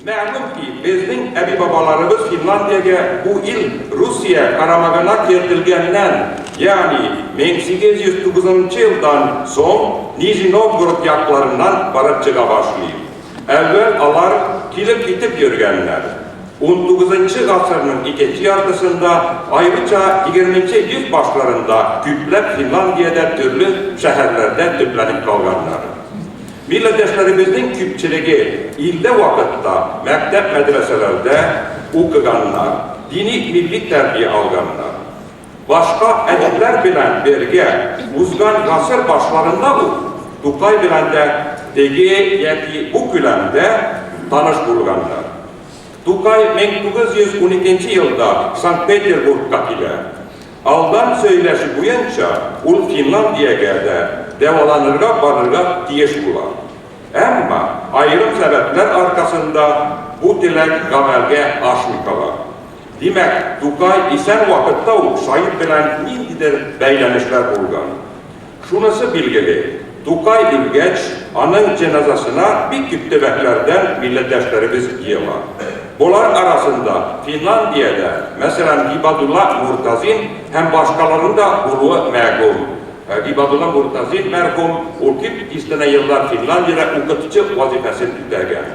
Мәгълүм ки, безнең әби-бабаларыбыз Финландиягә бу ил Русия карамагына кертелгәннән, ягъни 1809 елдан соң Нижний Новгород якларыннан барып чыга башлый. Әүвәл алар килеп-китеп йөргәннәр. Унтугызынчы гасырның икенче яртысында, аеруча егерменче йөз башларында күпләп Финландиядә төрле шәһәрләрдә төпләнеп калганнар. Милләттәшләребезнең күпчелеге иртә вакытта мәктәп-мәдрәсәләрдә укыганнар, дини-милли тәрбия алганнар. Башка әдипләр белән бергә узган гасыр башларында ук Тукай белән дә теге яки бу күләмдә таныш булганнар. Тукай 1912 елда Санкт-Петербургка килә. Алдан сөйләшү буенча, ул Финландиягә дә дәваланырга барырга тиеш була. Әмма аерым сәбәпләр аркасында бу теләк гамәлгә ашмый кала. Димәк, Тукай исән вакытта ук Шаип белән ниндидер бәйләнешләр булган. Шунысы билгеле, Тукай үлгәч, аның җеназасына бик күп төбәкләрдән милләттәшләребез җыела. Болар арасында Финландиядә, мәсәлән, Гибадулла Муртазин һәм башкаларның да булуы мәгүм. Гибадулла Муртазин мәрхүм, ул күп дистәнә еллар Финландиядә укытучы вазифасын үтәгән.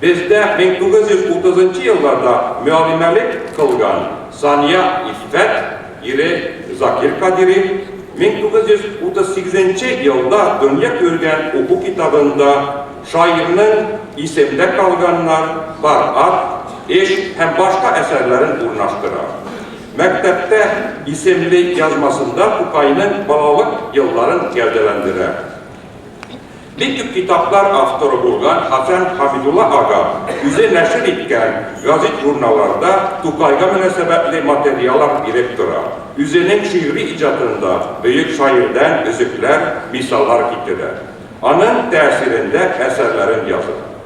Бездә 1930 елларда мөаллимәлек кылган Сания Иффәт ире Закир Кадири 1938 елда дөнья күргән уку китабында шаирның Исемдә калганнар, Бар ат, Эш һәм башка әсәрләрен урнаштыра. Мәктәптә исемле язмасында Тукайның балалык елларын гәүдәләндерә. Бик күп китаплар авторы булган Хәсән Хәмидулла ага үзе нәшер иткән гәзит-журналларда Тукайга мөнәсәбәтле материалар биреп тора. Үзенең шигъри иҗатында бөек шаирдән өзекләр, мисаллар китерә. Аның тәэсирендә әсәрләрен яза.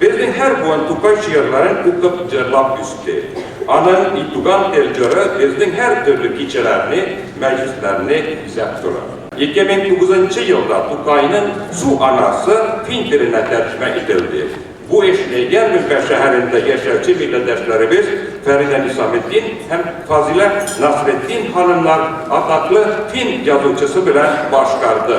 Безнең һәр буын Тукай җырларын укып җырлап үсте. Аның И туган тел җыры безнең һәр төрле кичәләрне, мәҗлесләрне бизәп тора. 2009 нчы елда Тукайның Су анасы фин теленә тәрҗемә ителде. Бу эшне Ярминка шәһәрендә яшәүче милләттәшләребез Фәридә Нисаметдин һәм Фазилә Насретдин ханымнар атаклы фин язучысы белән башкарды.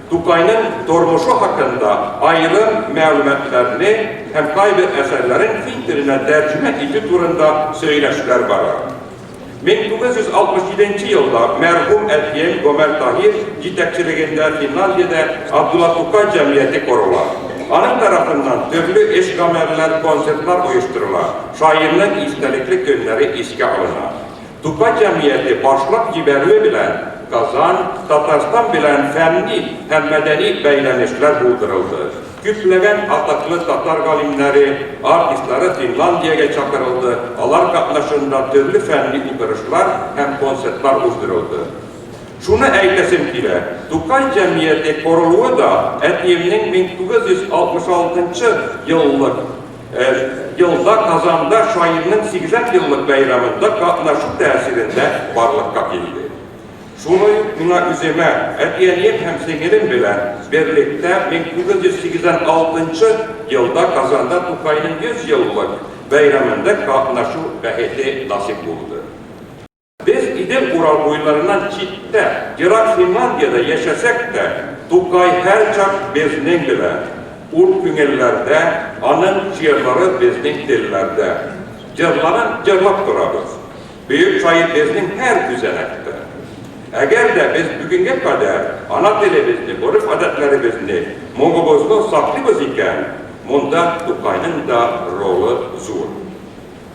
Тукайның тормышы хакында аерым мәгълүматларны һәм кайбер әсәрләрен фин теленә тәрҗемә итү турында сөйләшүләр бара. 1967 нче елда мәрхүм әтием Гомәр Таһир җитәкчелегендә Финляндиядә Абдулла Тукай җәмгыяте корыла. Аның тарафыннан төрле эш-гамәлләр, концертлар оештырыла, шаирның истәлекле көннәре искә алына. Тукай җәмгыяте башлап җибәрүе белән Казан, Татарстан белән фәнни һәм мәдәни бәйләнешләр булдырылды. Күпләгән атаклы татар галимнәре, артистлары Финландиягә чакырылды, алар катнашында төрле фәнни утырышлар һәм концертлар уздырылды. Шуны әйтәсем килә, Тукай җәмгыяте корылуы да әтиемнең 1966 еллык, Елда Казанда шаирның 80 еллык бәйрәмендә катнашу тәэсирендә барлыкка килде. Шулай ук миңа үземә, әти-әнием һәм сеңелем белән берлектә 1986 елда Казанда Тукайның 100 еллык бәйрәмендә катнашу бәхете насыйп булды. Без Идел Урал буйларыннан читтә, ерак Финландиядә яшәсәк тә, Тукай һәрчак безнең белән, ул күңелләрдә, аның җырлары безнең телләрдә. Җырларын җырлап торабыз. Бөек шаир безнең һәр күзәнәктә. Әгәр дә без бүгенгә кадәр ана телебезне, гореф-гадәтләребезне, моңыбызны саклыйбыз икән, монда Тукайның да ролы зур.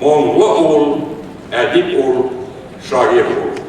Моңлы ул, әдип ул, шагыйрь ул.